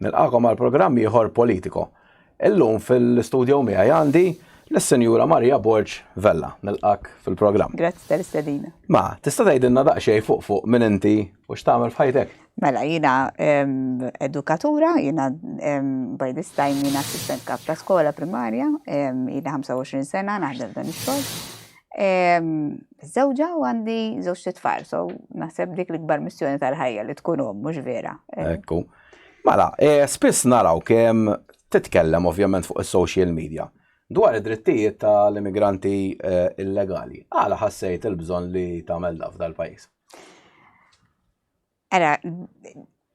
Nilqakom għal programm ieħor politiko. Illum fil-studio miegħi għandi l-Senjura Marija Borġ Vella, nilqak fil-programm. Grazzi tal-istedina. Ma, tista' tgħidilna daqsxejn fuq fuq minn inti u x'tagħmel f'ħajtek? Mela, jiena edukatura, jiena by this time jiena assistent kap ta' skola primarja, jiena 25 sena naħdem dan ix-xogħol. Żewġa u għandi żewġ titfal, so naħseb dik l-ikbar missjoni tal-ħajja li tkun hom mhux vera. Ekku. Mela, eh, spiss naraw kemm titkellem ovvjament fuq is-social media dwar id-drittijiet tal-immigranti eh, illegali. Għala ħassejt il-bżonn li tagħmel daf dal-pajjiż? Ara,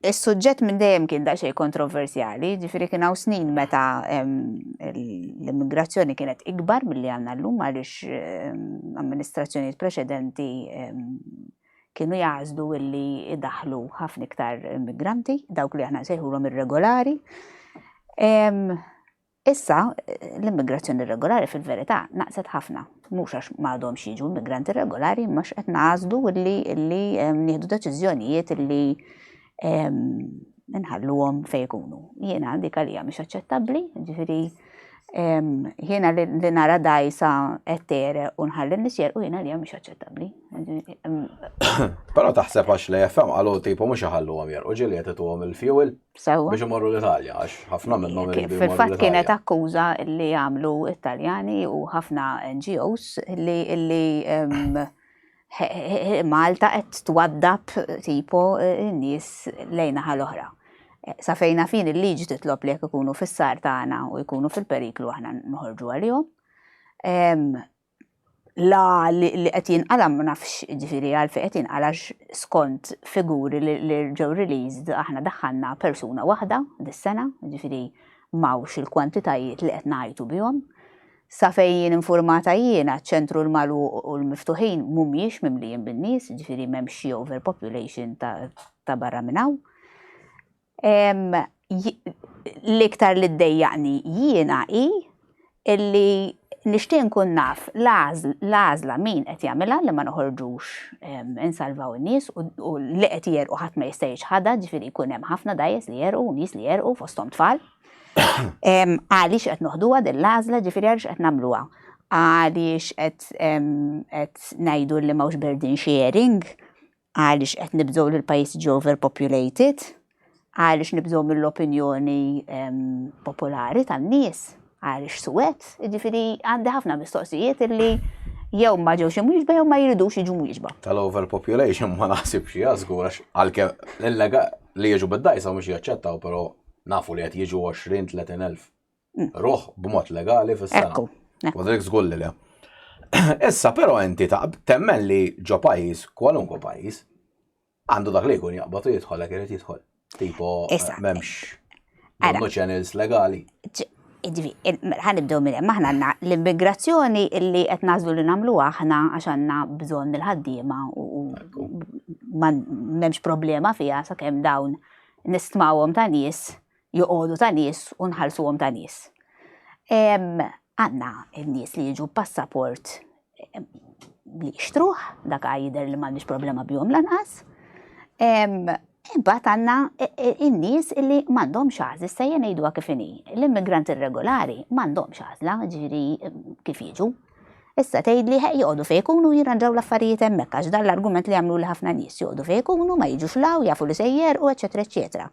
is-suġġett minn dejjem kien daqsxejn kontroversjali, jiġifieri kien hawn snin meta l-immigrazzjoni kienet ikbar milli għandna llum għaliex amministrazzjonijiet preċedenti kienu jażlu illi idaħlu ħafna iktar immigranti, dawk li aħna nsejħulhom irregolari. Issa, l-immigrazzjoni irregolari fil-verità naqset ħafna, mhux għax m'għadhomx jiġu immigranti irregolari, imma x'qed nagħżlu illi illi ehm, nieħdu deċiżjonijiet illi ehm, nħalluhom fejn ikunu. Jiena dik għalija mhix aċċettabbli, ġifieri ehm, jiena li nara dajsa qed tere u nħalli nisjer u jiena għalija mhix aċċettabbli. Però taħseb għax li FM qalu tipo mhux iħalluhom jerqu ġieli qed ituhom il-fuel. Sewa. Biex imorru l-Italja, għax ħafna minnhom iridu jmorru Fil-fatt l-Italja. kienet akkuża li għamlu Italjani u ħafna NGOs li li em, he- he- he- Malta qed twaddab tipo n-nies lejn naħa l-oħra. Sa fejna fin il-liġi titlob li jekk ikunu fis-sar tagħna u jkunu fil-periklu aħna noħorġu għalihom. Em, la li qed jinqala ma nafx ġifieri għalfejn qed jinqala skont figuri li ġew released aħna daħħalna persuna waħda dis-sena, ġifieri m'hawnx il-kwantitajiet li qed ngħajtu bihom. Sa fejn jien infurmata jiena ċ-ċentru l-magħluq u l-miftuħin mhumiex mimlijin bin-nies, ġifieri m'hemmx xi overpopulation ta' barra minn hawn. L-iktar li ddejjaqni jiena hi illi nixtieq nkun naf l-għażla min qed jagħmilha li ma noħorġux insalvaw in-nies u li qed jerqu ħadd ma jista' jiċħadha, ġifieri jkun hemm ħafna dgħajjes li jerqu u nies li jerqu fosthom tfal. Għaliex qed noħduha din l-għażla, ġifieri għaliex qed nagħmluha? Għaliex qed ngħidu li m'hawnx burden sharing? Għaliex qed nibżgħu li l-pajjiż jiġi overpopulated? Għaliex nibżgħu mill-opinjoni popolari tan-nies? Għaliex suwed? Jiġifieri għandi ħafna mistoqsijiet illi jew ma ġewx imwieġba jew ma jridux jiġu mwieġba. Tal-overpopulation ma naħsibx xi żgur għax għalkemm li jiġu bid-dajsa mhux jaċċettaw però nafu li qed jiġu 20-30 elf Mm. Ruħ b'mod legali fis-sena. Ekku. Wadrik zgull li le. Issa, pero inti ta' temmen li ġo pajis, kwalunkwe pajis, għandu dak li jkun jaqbatu jidħol għak jrid jidħol. Tipo, eh, memx għandu channels legali. Għanibdu minn hemm aħna għandna l-immigrazzjoni illi qed nażlu li nagħmlu aħna għax għandna bżonn il-ħaddiema u m'hemmx problema fiha sakemm dawn nistmawhom ta' nies joqogħdu ta' nies u nħallsuhom ta' nies. Għandna n-nies li jiġu b'passaport li jixtruh, dak jidher li m'għandix problema bihom lanqas. Imbagħad għandna e, e, in-nies li m'għandhomx għażla, issa jien ngħiduha kif inhi. L-immigranti irregolari m'għandhomx għażla, ġifieri kif jiġu, Issa tgħidli ħeq joqogħdu fejn ikunu jirranġaw l-affarijiet hemmhekk għax dan l-argument li jagħmluli ħafna nies, joqogħdu fejn ikunu, ma jiġux 'l hawn, jafu li se jgħerqu, eċċetera eċċetera.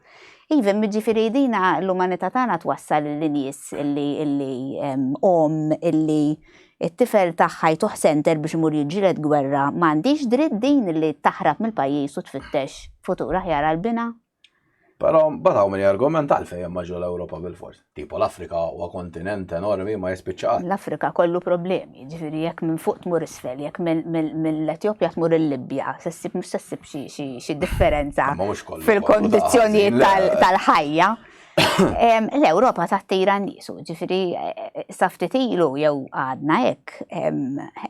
Iva, imma jiġifieri din l-umanità tagħna twassal li nies li li omm li t-tifel tagħha jtuħ senter biex imur jiġġieled gwerra ma għandhiex dritt din li taħrab mill-pajjiż u tfittex futur aħjar għal binha? Però mbagħad hawn min jargumenta għalfejn hemm ma ġo l-Ewropa bil-fors. Tipo l-Afrika huwa kontinent enormi ma jispiċċa qatt. L-Afrika kollu problemi, jiġifieri jekk minn fuq tmur isfel, jekk mill-Etjopja tmur il-Libja, se ssib mhux se ssib xi differenza fil-kondizzjonijiet tal-ħajja. L-Ewropa tattira n-nies, ġifieri sa ftit ilu jew għadna hekk,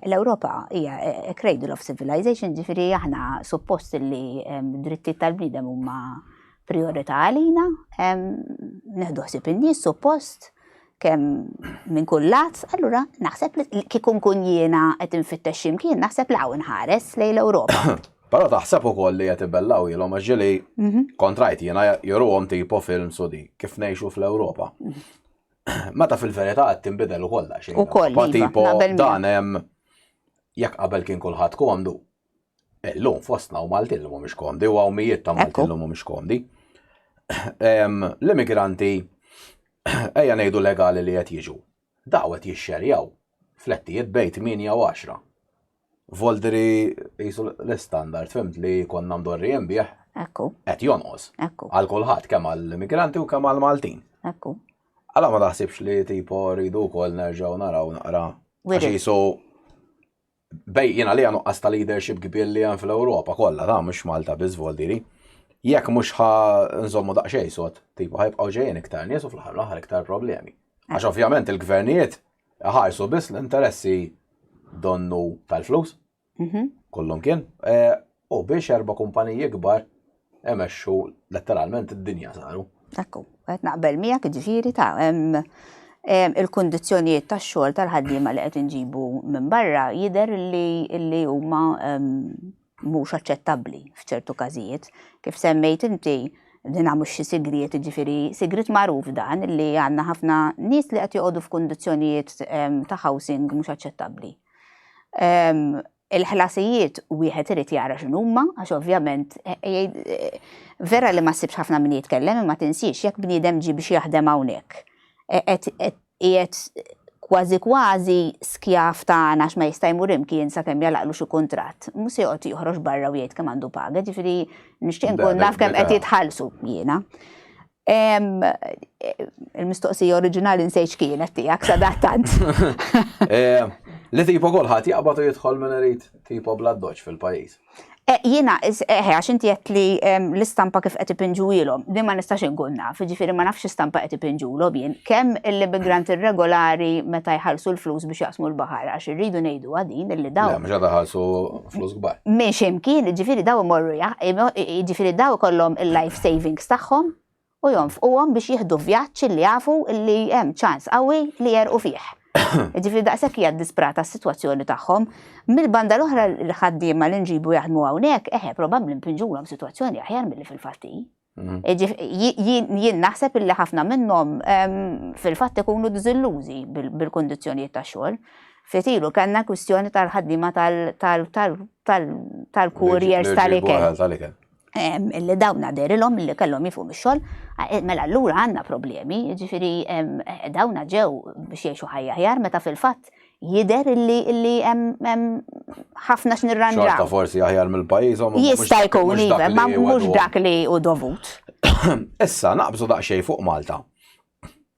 l-Ewropa hija a cradle of civilization, ġifieri aħna suppost li drittijiet tal-bniedem huma priorità għalina, nieħdu ħsieb in-nies suppost, kemm minn kull lat, allura naħseb li kieku nkun jiena qed infittex xi mkien naħseb li hawn inħares lejn l-Ewropa. Però taħseb ukoll li qed ibellgħuhielhom għax ġieli kontrajt jiena juruhom tipo films u dik kif ngħixu fl-Ewropa. Meta fil-verità qed tinbidel ukoll daqsxejn. Ukoll. Tipo dan hemm jekk qabel kien kulħadd komdu, Illum fostna u Maltin li mhumiex komdi u hawn mijiet ta' Maltin li mhumiex komdi. L-immigranti ejja ngħidu legali li qed jiġu. Daw qed jixxerjaw flettijiet bejt 8 u 10. Voldri jisu l-standard fimt li konna mdorrijin bih. Ekku. Qed jonqos. Ekku. Għal kulħadd kemm għall-immigranti u kemm għall-Maltin. Ekku. Għala ma taħsibx li tipo rridu wkoll nerġgħu naraw naqra. Għax jisu bej jiena li nuqqas ta' leadership kbir li hemm fl-Ewropa kollha, ta' mhux Malta biss voldiri. Jekk mhux ħa nżommu daqsxejn sod, tipu ħajbqgħu ġejjin iktar nies u fl-aħħar l-aħħar iktar problemi. Għax ovvjament il-gvernijiet ħarsu biss l-interessi donnu tal-flus, mhm. kollhom kien. Eh, U biex erba' kumpaniji kbar emexxu letteralment id-dinja saru. Ekku, qed naqbel miegħek jiġifieri ta' il-kundizzjonijiet tax-xogħol tal-ħaddiema li qed inġibu minn barra jidher li huma mhux aċċettabbli f'ċertu każijiet. Kif semmejt inti, din mhux xi sigriet, jiġifieri sigriet magħruf dan li għandna ħafna nies li qed joqogħdu f'kundizzjonijiet ta' housing mhux aċċettabbli. Il-ħlasijiet wieħed irid jara x'inhuma għax ovvjament vera li ma ssibx ħafna min jitkellem imma tinsiex jekk bniedem ġie biex jaħdem hawnhekk qiegħed kważi kważi skjav ta' għan għax ma jista' jmur imkien sakemm jagħlaqlu xi kuntratt, mhux se joqgħod joħroġ barra u jgħid kemm għandu paga, jiġifieri nixtieq inkun naf kemm qed jitħallsu jiena. Il-mistoqsija oriġinali nsejt x'kienet tiegħek sadattant. Li tipo kulħadd jaqbad u jidħol minn irid tipo bla doċ fil-pajjiż. Eh, jiena, eh, għax inti qed li l-istampa kif qed ipinġuilhom, din ma nistax inkun naf, ġifieri ma nafx istampa qed ipinġulhom jien. Kemm l-immigranti irregolari meta jħallsu l-flus biex jaqsmu l-baħar għax irridu ngħidu għadin illi dawn. Mhux qed iħallsu flus kbar. Minn ximkien, ġifiri daw imorru ġifiri daw kollom il-life savings tagħhom u jonfquhom biex jieħdu vjaġġ li jafu li hemm ċans qawwi li jerqu fih. Ġifiri daqshekk hija disprata s-sitwazzjoni tagħhom. Mill-banda l-oħra l-ħaddiema li nġibu jaħdmu hawnhekk, eħe probabbli mpinġulhom sitwazzjoni aħjar milli fil-fatti. Mhm. Jien naħseb illi ħafna minnhom fil-fatt ikunu diżillużi bil-kundizzjonijiet ta' xogħol. Fitilu kellna kwistjoni tal-ħaddiema tal-kurjers tal-ikel. Illi dawna derilhom illi kellhom jifu mix-xogħol, eh, mela allura għandna problemi, jiġifieri eh, dawna ġew biex jgħixu ħajja ħjar meta fil-fatt jider illi illi hemm ħafna x'nirranġaw. Xorta forsi aħjar mill-pajjiżhom. Jista' jkun iva, ma mhux dak li hu dovut. Issa naqbżu daqsxejn fuq Malta.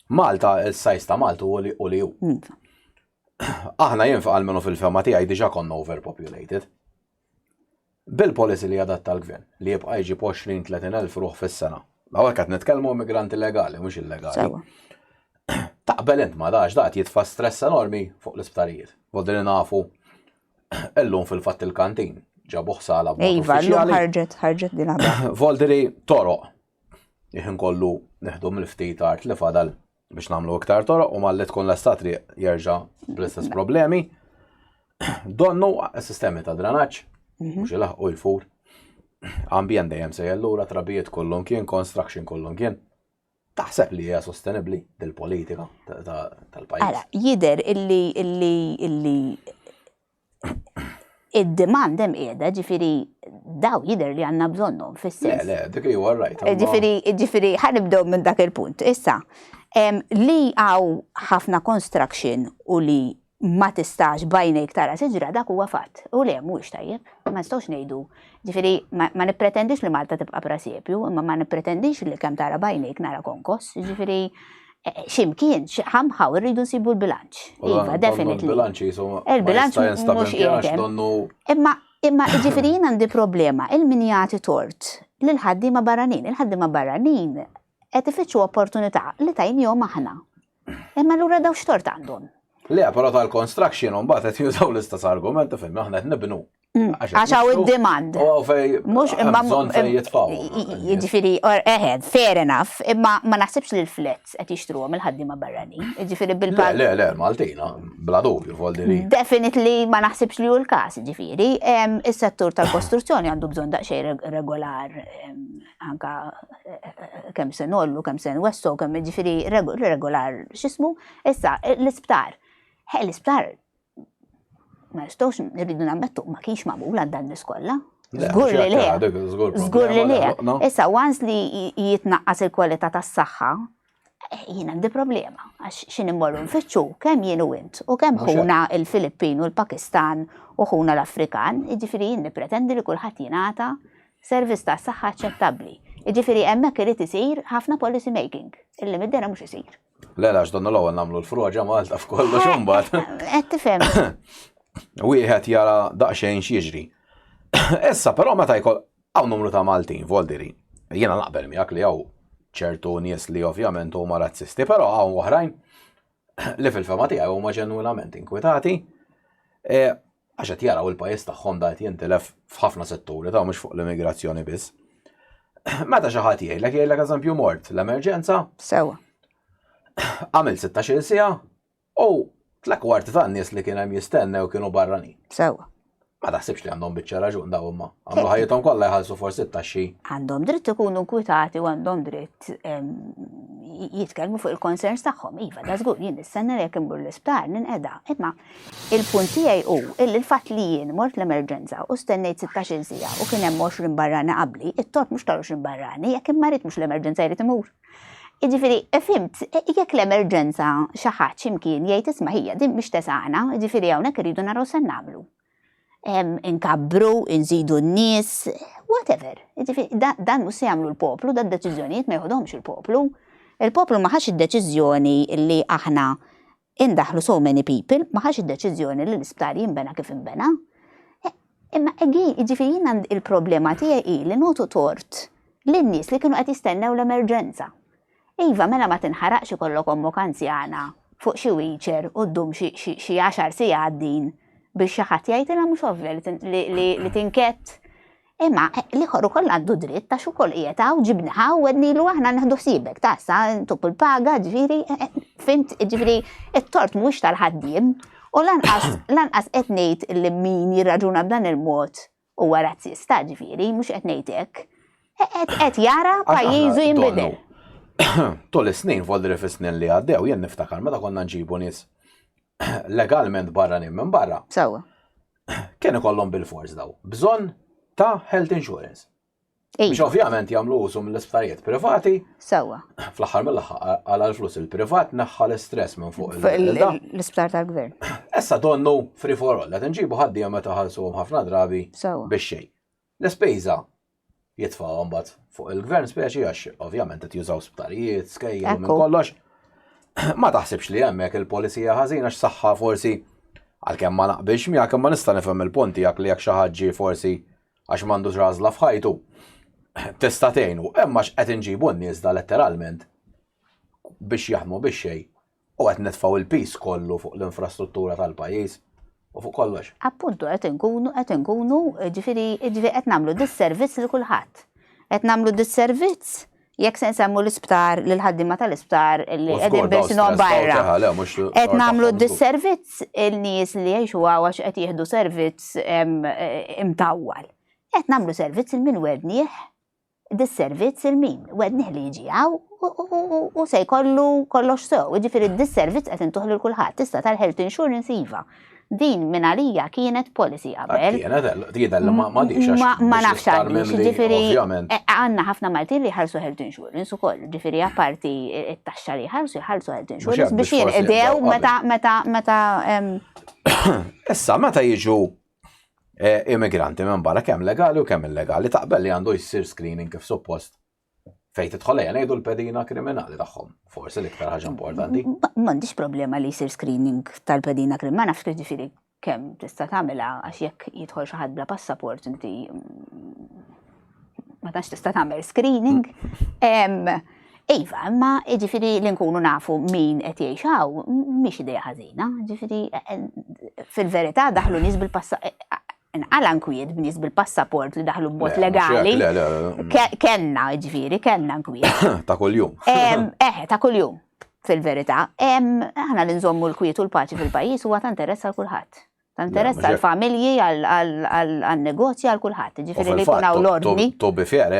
Malta is-sajs ta' Malta u li hu. Aħna jinfaq għal minnu fil-fema tiegħi diġà konna overpopulated. Bil-policy li jadatta l-Gvern, li jibqa' jġib 20-30 elf ruħ fis-sena. Hawnhekk qed nitkellmu immigranti legali mhux illegali. Sewwa. Taqbel int ma' dax dat jitfa' stress enormi fuq l-isptarijiet. Voldi li nafu illum fil-fatt il-kantin ġabuh sala b'mod uffiċjali. Iva, llum ħarġet ħarġet din Voldi li toroq iħin kollu neħdu mill-ftit art li fadal biex namlu iktar toroq u malli tkun l-esta triq jerġa bl-istess problemi. Donnu sistemi ta' dranaċ, mhm. mux il u jfur. Ambjent dejjem se jellura, trabijiet kollum kien, construction kollum kien. Taħseb li hija sostenibli dil-politika tal-pajjiż? Jider illi illi illi id-demand hemm qiegħda, ġifieri daw jidher li għandna bżonnhom fis-sens. Le, le, dik li huwa rajt. Ġifieri, ġifieri ħanibdew minn dak il-punt. Issa, li għaw ħafna construction u li ma tistax bajnejk tara siġra dak huwa fatt. U le mhuwiex tajjeb, ma nistgħux ngħidu. Ġifieri ma nippretendix li Malta tibqa' prasjepju, imma ma nippretendix li kemm tara bajnejk nara konkos. Ġifieri Eh, ximkien, ħamħaw, rridu nsibu l-bilanċ. Iva, definitely. Il-bilanċ jisom. Il-bilanċ mux jgħetem. Imma, imma ġifiri jina għandi problema, il-min jgħati tort, l-ħaddima barranin, il-ħaddima barranin, għet ifittxu opportunità li tajn jom aħna. Imma l-ura daw xtort għandhom. Le, pero tal-construction un bat għet jużaw l-istess argument, fim, aħna għet nibnu. Mm, għax għaw id-demand. U għaw fej. Mux imma. Bżon fej jitfaw. Ġifiri, eħed, fair enough, imma ma naħsibx li l-flets għet jishtru għom il-ħaddima barrani. Ġifiri bil-pal. Le, le, Maltina, bla dubju, voldiri. Definitely ma naħsibx li u l-kas, ġifiri. Il-settur tal-kostruzzjoni għandu bżon daqxej regolar, anka kem sen ollu, kem sen wesso, kem ġifiri regolar, xismu. Issa, l-isptar. He, l-isptar ma nistgħux nirridu nammettu ma kienx magħmul għal dan niskolla. Zgur li le. Zgur li le. Issa, once li jitnaqqas il-kwalità tas-saħħa, eh, jien għandi problema. Għax xin immorru nfittxu kemm jien u int u kemm ħuna il-Filippin u l-Pakistan u ħuna l-Afrikan, jiġifieri jien nippretendi li kulħadd jingħata servizz ta' saħħa aċċettabbli. Jiġifieri hemmhekk irid isir ħafna policy making, illi mid-dera mhux isir. Le, għax donna l-ewwel nagħmlu l-froġa Malta f'kollox eh, imbagħad. Eh, qed tifhem. Wieħed jara daqsxejn x'jiġri. Issa però meta jkoll hawn numru ta' Maltin voldiri. Jiena naqbel miegħek li hawn ċertu nies li ovvjament huma razzisti, però hawn oħrajn li fil-fema tiegħi huma ġenwinament inkwitati. Eh, għax qed jaraw il-pajjiż tagħhom da qed jintilef f'ħafna setturi ta' mhux fuq l-immigrazzjoni biss. Meta xi ħadd jgħidlek jgħidlek eżempju mort l-emerġenza. Sewa. Għamil 16 sija u tlek kwart ta' nies li kien hemm jistennew kienu barrani. Sewa. Ma taħsibx li għandhom biċċa raġun daw imma. Għamlu ħajjithom kollha jħallsu forsi t-taxxi. Għandhom dritt ikunu nkwitati u għandhom dritt jitkellmu fuq il-concerns tagħhom. Iva, da żgur jien nistenna jekk imbur l-isptar ninqeda. Imma Il-punt tiegħi hu illi l-fatt li jien mort l-emerġenza u stennejt sittax-il siegħa u kien hemm għoxrin barrani qabli, it-tort mhux tal-għoxrin barrani, jekk immarid mhux l-emerġenza jrid imur. Jiġifieri, fhimt, jekk l-emerġenza xi ħadd xi mkien jgħid isma' hija din mhix tesgħana, jiġifieri hawnhekk irridu naraw se nagħmlu. Inkabbru, inżidu n-nies, whatever. Jiġifieri, dan mhux se jagħmlu l-poplu, dan deċiżjonijiet ma jeħodhomx il-poplu. Il-poplu ma ħax id-deċiżjoni li aħna Indaħlu so many people, ma ħax id-deċiżjoni li l-isptar jinbena kif inbena. Imma egi, jiġifieri jien għand il-problema tiegħi hi li nagħtu tort lin-nies li kienu qed jistennew l-emerġenza. Iva, mela ma tinħaraqx ikollok ommok anzjana fuq xi wheelchair u ddum xi xi xi għaxar sigħat din biex xi ħadd jgħidilha mhux ovvja li li li tinkett Imma l-ieħor ukoll għandu dritt għax ukoll qiegħed hawn ġibni ħa u għednilu aħna neħdu ħsiebek ta' sa ntuk il-paga ġifieri eh, eh, fimt ġifieri it-tort mhuwiex tal-ħaddiem u lanqas lanqas qed ngħid li min jirraġuna b'dan il-mod huwa razzista ġifieri mhux qed ngħid hekk. Eh, qed jara pajjiżu jinbidel. Tul is-snin volli fis-snin li għaddew jien niftakar meta konna nġibu nies legalment barranin minn barra. Sewwa. Kien ikollhom bil-fors daw bżonn ta' health insurance. Biex iva. ovvjament jagħmlu użu mill-isptarijiet privati. Sewwa. Fl-aħħar mill-aħħar għal l-flus il-privat naħħa l-istress minn fuq l-isptar tal-gvern. Issa donnu free for all, qed inġibu ħaddiema meta ħalsuhom ħafna drabi biex xejn. L-ispejża jitfgħu mbagħad fuq il-gvern speċi għax ovvjament qed jużaw sptarijiet, skejjel minn kollox. Ma taħsibx li hemmhekk il-polisija ħażina x'saħħa forsi għalkemm ma naqbilx miegħek imma nista' nifhem il-punti jak li jekk xi ħadd forsi għax m'għandux rażla f'ħajtu tista' tgħinu, imma x'qed inġibu n-nies da letteralment biex jaħmu biex xejn U qed nitfgħu il-piż kollu fuq l-infrastruttura tal-pajjiż u fuq kollox. Appuntu qed inkunu qed inkunu ġifieri ġifieri qed nagħmlu disservizz lil kulħadd. Qed nagħmlu disservizz jekk se nsemmu l-isptar lil ħaddiema tal-isptar li qegħdin bisinhom barra. Qed nagħmlu disservizz il-nies li jgħixu għax qed jieħdu servizz imtawwal. Qed nagħmlu servizz il min wednieh Dis-servizz il-min, wednih li jiġi hawn u se jkollu kollox sew, jiġifieri dis-servizz qed intuh lil kulħadd, issa tal-health insurance iva. Din minn għalija kienet policy qabel. Kienet, jidher li ma għadix għax. Ma nafx għadix, jiġifieri għandna ħafna Maltin li jħarsu health insurance ukoll, jiġifieri apparti t-taxxa li jħarsu jħarsu health insurance biex jinqdew meta. Issa meta jiġu eh, immigranti minn barra kemm legali u kemm illegali taqbel li għandu jsir screening kif suppost fejn tidħol ejja ngħidu l-pedina kriminali tagħhom, forsi l-iktar ħaġa importanti. M'għandix problema li jsir screening tal-pedina kriminali, ma nafx kif ġifieri kemm tista' tagħmilha għax jekk jidħol xi ħadd bla passaport inti mm, ma tax tista' tagħmel screening. Iva, ma ġifiri li nkunu nafu min qed jgħixaw, mhix idea ħażina, ġifiri fil-verità daħlu nies bil-passa nqala nkwiet b'nies bil-passaport li daħlu b'mod legali. Kenna, ġifiri, kenna nkwiet. Ta' kuljum. Eh, ta' kuljum, fil-verità. Aħna li nżommu l-kwiet u l-paċi fil-pajjiż huwa ta' interess għal kulħadd. Ta' interess għal familji, għal negozji, għal kulħadd, ġifieri li jkun hawn l-ordni. To be fair,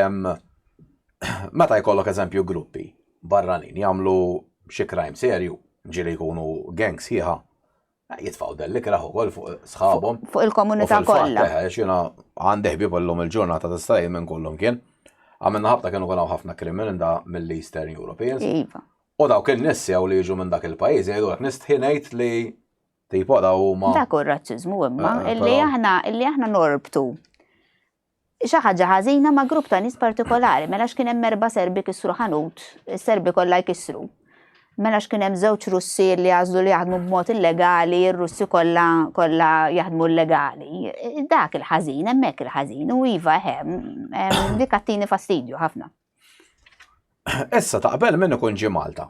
meta jkollok eżempju gruppi barranin jagħmlu xi crime serju, ġieli jkunu gang sħiħa, eh, jitfaw delli kraħ ukoll fuq sħabhom. Fuq il-komunità kollha. Eh, xina għandi ħbieb illum il-ġurnata ta' stajjem minn kollhom kien. Għamilna ħabta kienu kollha ħafna krimin da mill-Eastern Europeans. Iva. U dawk in-nies li jiġu minn dak il-pajjiż jgħidu nistħinajt li Tipo da huma. Dak hu r-razziżmu imma eh, illi aħna illi aħna norbtu xi ħaġa ħażina ma' grupp ta' nies partikolari, mela x'kien hemm erba' serbi kisru ħanut, is-serbi kollha jkissru. Mela x'kien hemm żewġ Russi li jażlu li jaħdmu b'mod illegali, ir-Russi kollha kollha jaħdmu illegali. Dak il-ħażin, hemmhekk il-ħażin, u iva hemm dik għattini fastidju ħafna. Issa taqbel min ikun ġi Malta.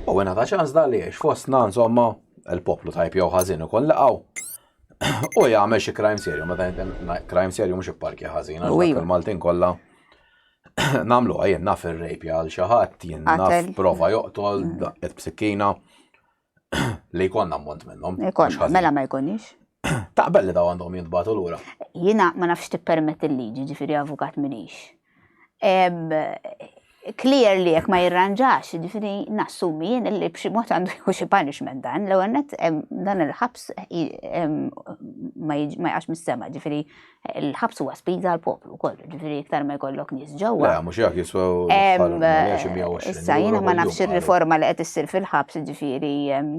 U għena ta' ċans da li jiex fostna insomma il-poplu tajb jew ħażin ikun laqaw. U jagħmel xi crime serju, meta crime serju mhux ipparkja ħażin, għax iva. il-Maltin kollha namlu għajjen naf il-rejpja għal xaħat, jien naf prova joqtol, mm. et b'sikkina. Li jkollna ammont minnhom. Jkollna, mela ma jkunix. Taqbel li daw għandhom jintbatu lura. Jiena ma nafx tippermett il-liġi, ġifieri avukat minix. Clear li jekk ma jirranġax, ġifieri nassumi jien li b'xi mod għandu jieħu xi punishment dan, l-ewwel dan il-ħabs ma jaqax mis-sema, ġifieri Il-ħabs huwa spiża għal poplu wkoll, ġifieri iktar ma jkollok nies ġewwa. Le, mhux jekk jiswa Issa jiena ma nafx ir-riforma li qed issir fil-ħabs, ġifieri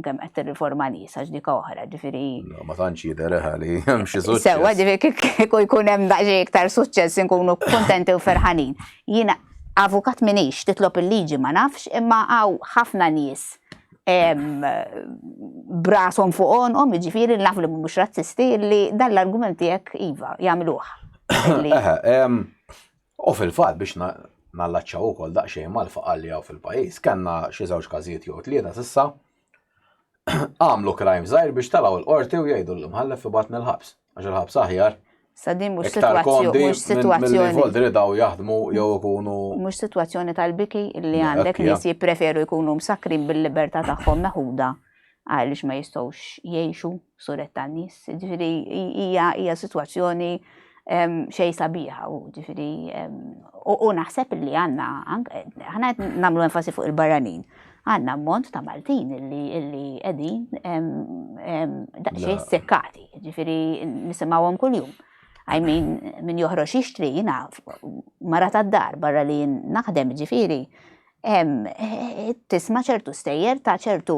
kemm qed tirriforma nies għax dik oħra, ġifieri. Ma tantx jidher li hemm xi suċċess. Sewwa ġifieri kieku jkun hemm daqsxejn iktar suċċess inkunu kuntenti u ferħanin. Jiena avukat minix titlob il-liġi ma nafx, imma hawn ħafna nies b'rashom fuq għonqhom, jiġifieri naf li mhumiex razzisti, li dan l-argument tiegħek iva jagħmluh. U fil-fatt biex nallaċċaw ukoll daqsxejn mal-faqal li hawn fil-pajjiż, kellna xi żewġ każijiet jew tlieta s'issa għamlu crime żgħir biex talgħu l-qorti u jgħidu l-imħallef ibatni l-ħabs. Għax il-ħabs aħjar. Sadin mhux situazzjoni mhux situazzjoni. Volti li daw jaħdmu jew ikunu. Mhux situazzjoni tal-biki li għandek nies jippreferu jkunu msakrin bil-libertà tagħhom meħuda għaliex ma jistgħux jgħixu suret tan-nies. Ġifieri hija hija situazzjoni xej sabiħa u ġifieri u naħseb li għandna ħana nagħmlu enfasi fuq il-barranin. għanna ammont ta' Maltin illi edin daqxie sekkati, ġifiri nisimawom kull-jum. I mean, min joħroġ jixtri jina mara ta' dar barra li naħdem ġifiri. Tisma ċertu stejjer ta' ċertu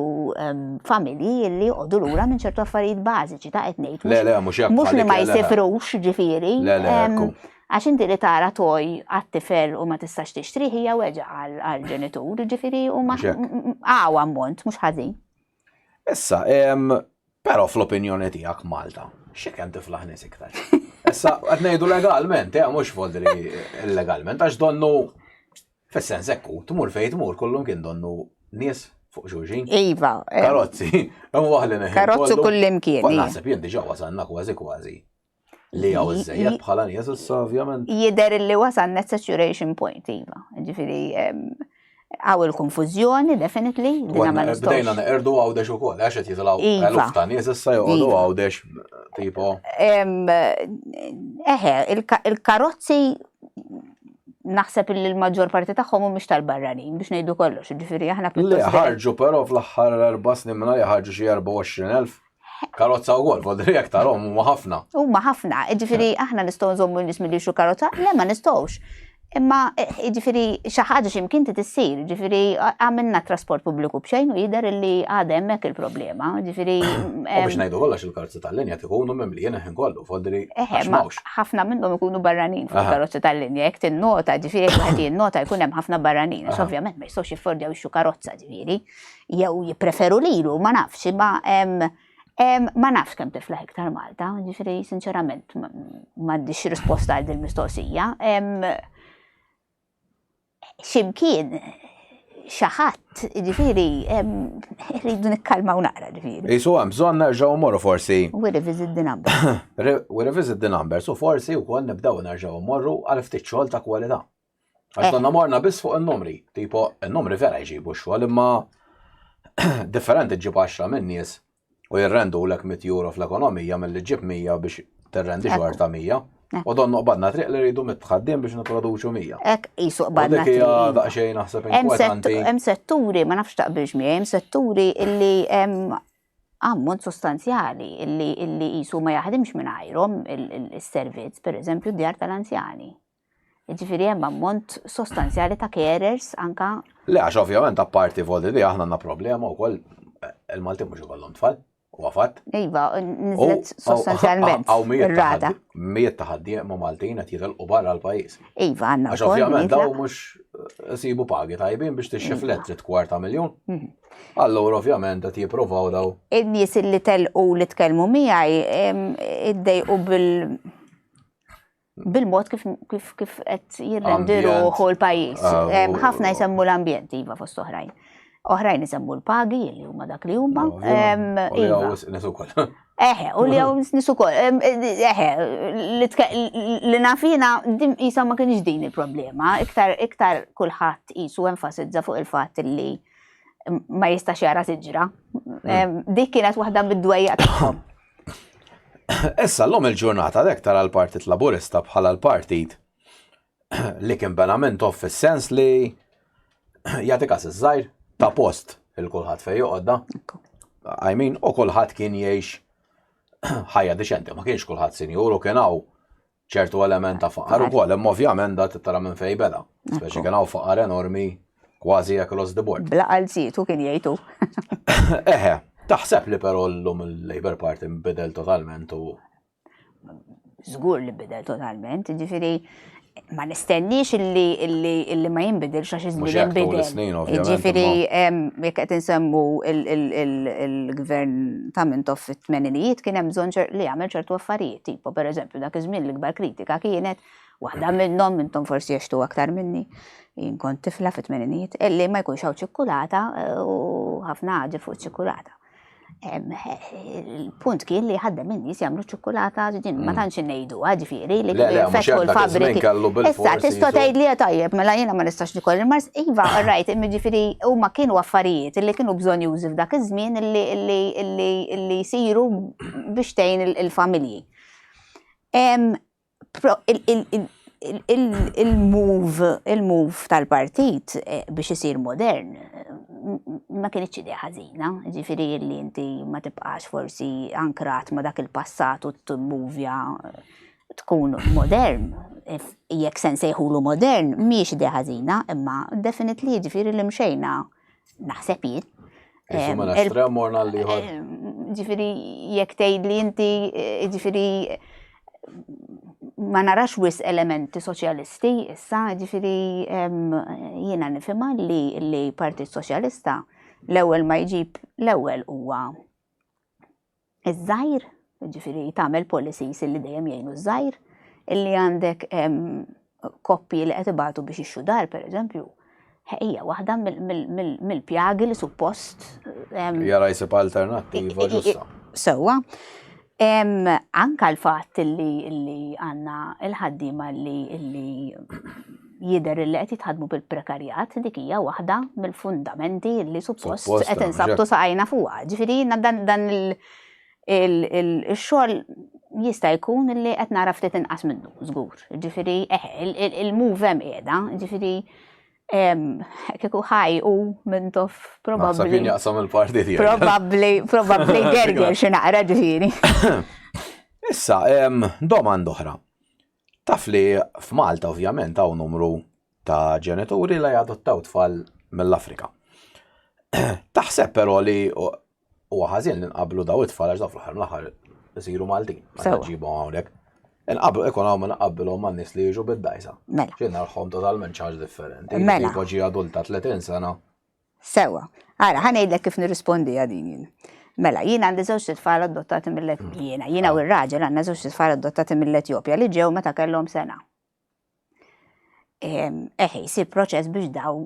familji illi għodu l-ura minn ċertu affarijiet bażiċi ta' etnejt. Le, le, mux Mux li ma jisifrux ġifiri. Le, le, Għax inti li tara toj għat-tifel u ma tistax tixtrih hija weġa' għall-ġenitur, ġifieri huma għaw ammont mhux ħażin. Issa, però fl-opinjoni tiegħek Malta, xi kemm tiflaħ nies iktar? Issa, qed ngħidu legalment, eh, mhux fodri illegalment, għax donnu fis-sens ekku, tmur fejn tmur, kollum kien donnu nies fuq xulxin. Iva. Eh. Karozzi, hemm waħli neħi. Karozzi kullimkien. Naħseb jien diġà wasalna kważi kważi Li għaw iż-żejjed bħala nies issa ovvjament. Jider li wasan net saturation point, iva. Ġifiri, għaw il-konfuzjoni, definitely. Bdejna neqerdu għawdex u koll, għax għet jitlaw iva. għaluf ta' nies issa joqgħodu iva. għawdex tipo. Eħe, il-karozzi naħseb li l-maġġor parti tagħhom mhumiex tal-barranin biex ngħidu kollox, ġifieri aħna pjuttost. Li ħarġu però fl-aħħar erba' snin minn li ħarġu xi 24,000. Karozza u għol, għodri jek tarom, u ħafna. U ħafna, ġifiri, aħna nistaw nżommu nis mill xu karozza, le ma nistawx. Imma, ġifiri, xaħġa ximkien ti tissir, ġifiri, għamilna trasport publiku bxejn u jider li għadem mek il-problema, ġifiri. U biex najdu għallax il-karozza tal-linja tikunu memli jena ħin kollu, fodri. ħafna minnhom ikunu barranin fil-karozza tal-linja, jek tin-nota, ġifiri, għati nota jkunem ħafna barranin, ovvjament ma jistawx jiffordjaw xu karozza, ġifiri. jew jippreferu lilu, ma nafx, imma ma nafx kemm tiflaħ iktar Malta, ġifri sinċerament m'għandix risposta għal din mistoqsija. Ximkien xaħat, ġifiri, rridu nikkalmaw naqra, ġifiri. Jisu għam, bżon nerġaw moru forsi. We revisit the numbers. We revisit the numbers, u forsi u kol nibdaw nerġaw morru għal ftit xogħol ta' kwalità. Għax konna morna biss fuq il-numri, tipo il-numri vera jġibu xogħol imma differenti ġib 10 minn nies u jirrendu l-ek mit euro fl-ekonomija mill-li ġib 100 biex terrendi xogħol ta' 100. U don noqbadna triq li rridu mitħaddim biex niproduċu 100. Ek jisu qbadna triq. Dik hija daqsxejn naħseb inkwetanti. Hemm setturi, ma nafx taqbilx miegħi, hemm setturi illi ammont sostanzjali illi jisu ma jaħdimx minn għajrom il-servizz, per eżempju, djar tal-anzjani. Jiġifieri hemm ammont sostanzjali ta' carers anka. Le għax ovvjament apparti vodi di aħna għandna problema wkoll il-Malti mhux ikollhom tfal. Huwa fatt. Iva, niżlet sostanzjalment. Għaw mijiet ta' ħaddiema Maltin qed jitilqu barra l-pajjiż. Iva, għandna. Għax ovvjament daw mhux eh, sibu pagi tajbin biex tixxi flet trid kwarta miljun. Mhm. Allura ovvjament qed jippruvaw daw. In-nies li telqu li tkellmu miegħi iddejqu bil bil-mod kif kif kif qed jirrendi ruħu l-pajjiż. Ah, ħafna jsemmu l-ambjent iva fost oħrajn. Oħrajn jsemmu l-pagi li huma dak li huma. Iva. Eħe, u li għaw nisu kol, eħe, li nafina dim jisa ma kienx din il-problema, iktar, iktar kullħat jisu enfasizza fuq il-fat li ma jistax jara tiġra. Mm. Dik kienet waħda mid-dwejja tagħhom. Issa l-lum il-ġurnata dek tara l-Partit Laburista bħala l-partit li kien benament off fis-sens li jagħti kas iż-żgħir ta' post il-kulħadd fejn joqgħodda. I mean, u kulħadd kien jgħix ħajja diċenti, ma kienx kulħadd sinjur u kien hawn ċertu element ta' faqar ukoll, imma ovvjament da tittara minn fejn beda. Speċi kien hawn faqar enormi kważi across the board. Bla qalzitu kien jgħidu. Eħe, taħseb li però llum il-Labour Party nbidel totalment u. Żgur li bidel totalment, ġifieri ma nistenniex illi illi illi ma jinbidil xa xi żmien jinbidel. Ġifieri jekk qed insemmu il-gvern ta' mintoff fit-tmeninijiet kien hemm bżonn li jagħmel ċertu affarijiet, tipo pereżempju dak iż-żmien l-ikbar kritika kienet, waħda minnhom intom forsi għextu aktar minni, jien kont tifla fit-tmeninijiet, illi ma jkunx hawn ċikkulata u ħafna ħaġa fuq ċikkulata. Il-punt kien li ħaddem in-nies jagħmlu ċikkulata din ma mm. tantx Huwa ġifieri li Le, le, mhux jaqbad iż-żmien kellu bil-forsi. Issa tista' tgħid li tajjeb mela jiena ma nistax nikol il-mars. Iva, rajt, ġifieri huma kienu affarijiet li kienu bżonjużi f'dak iż-żmien li jsiru biex tgħin il-familji. Il-move, il-move tal-partit biex isir modern, ma kienx idea ħażina, ġifiri li inti ma tibqax forsi ankrat ma dak il-passat u t-movja tkun modern, jekk sen sejħulu modern, miex idea ħażina, imma definitely ġifiri li mxejna naħseb jien. Ġifiri, jek tejd li inti, ġifiri, ma narax wis elementi soċjalisti issa, ġifiri jiena nifhimha li li Partit Soċjalista l-ewwel ma jġib l-ewwel huwa iż-żgħir, ġifiri tagħmel policies li dejjem jgħinu ż-żgħir, illi għandek koppji li qed ibatu biex ixxu dar, per eżempju, hija waħda mill-pjagi li suppost. Jara jisib alternattiva ġusta. Sewa, anka l-fatt li għanna il-ħaddima li jider li qed jitħadmu bil-prekarjat dik hija waħda mill-fundamenti li suppost qed insabtu saqajna fuqha. Ġifieri dan il- il-xogħol jista' jkun li qed nara ftit inqas minnu, żgur. Ġifieri eh, il-move hemm qiegħda, ġifieri kieku ħaj u minn tof probabbli. jaqsam il-parti tiegħek. Probabbli, probabbli gerger xi naqra ġifieri. Issa, domanda oħra. Taf li f'Malta ovvjament hawn numru ta' ġenituri li jadottaw tfal mill-Afrika. Taħseb però li huwa ħażin li nqablu daw it-tfal għax daw fl-aħħar mill-aħħar isiru Maltin. Sewa. Ġibhom hawnhekk. Inqablu ikun hawn naqabbilhom ma' nies li jiġu bid-dajsa. Mela. Xi narħom totalment ċaġ differenti. Mela. Jibqa' ġi adulta 30 sena. Sewa. Ara, ħa ngħidlek kif nirrispondi għal din jien. Mela, jien għandi żewġ tfal adottati mill-Etjopja. Jiena, jiena u r-raġel għandna żewġ tfal adottati mill-Etjopja li ġew meta kellhom sena. eħe, jisir proċess biex daw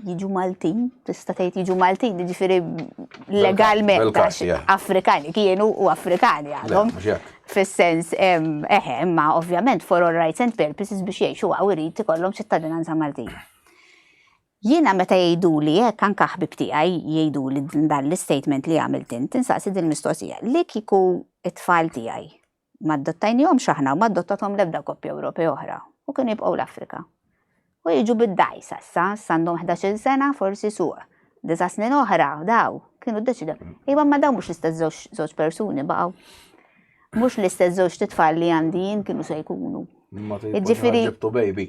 jiġu Maltin, tista' tgħid jiġu Maltin, jiġifieri legalment Afrikani kienu u Afrikani għadhom. Fis-sens, eħe, ma ovvjament for all rights and purposes biex jgħixu għaw irid ikollhom ċittadinanza Maltin. Jiena meta jgħidu li hekk anke ħbib tiegħi jgħidu li dan l-istatement li għamilt int, tinsaqsi din mistoqsija. Li kieku it-tfal tiegħi Ma adottajnihomx aħna u ma adottathom l-ebda koppja Ewropea oħra u kienu jibqgħu l-Afrika. U jiġu bid-dgħajsa issa, issa għandhom ħdax-il sena, forsi suq disa' snin oħra, daw, kienu ddeċidew. Iva ma dawn mhux l-istess żewġ żewġ persuni baqgħu. Mhux l-istess żewġ titfal li għandi jien kienu se jkunu. Ma Jiġifieri- ġibtu baby.